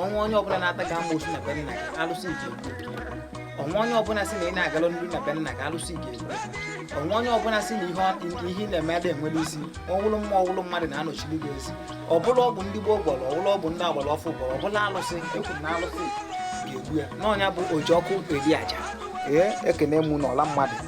o nwee onye ọbụla na-ata gị amoosu na be nna gị alụsị ji o nwee onye ọbụla sị na ị na-agala n'iru na be nna gị alụsị ji o nwee onye ọbụla sị na ihe ị na-eme ada enwere isi ọ wụlụ mmụọ ọ wụlụ mmadụ na-anọchiri gị ezi ọ bụlụ ọgwụ ndị gboo gwọrọ ọ wụlụ ọgwụ ndị agbara ọfụụ gwọrọ ọ bụlụ alụsị ekwu na alụsị ga-egbu ya n'onye bụ oji ọkụ eri aja ee ekene m unu ọla mmadụ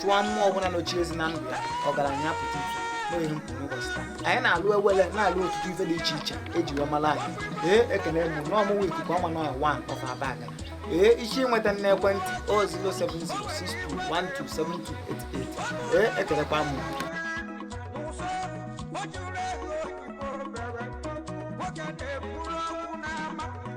chụọ mmụọ ọbụla nọchi ezi na ndụ ya ọgaranya pụta ife n'ihe m kwuru n'ụbọchị taa anyị na-alụ ewele na-alụ ọtụtụ ife dị iche iche eji wee mara anyị ee ekene m unu ọ mụwa ikuku ama n'ọnya one of abagana ee i si nweta m n'ekwentị o 07062127288 ee ekelekwa m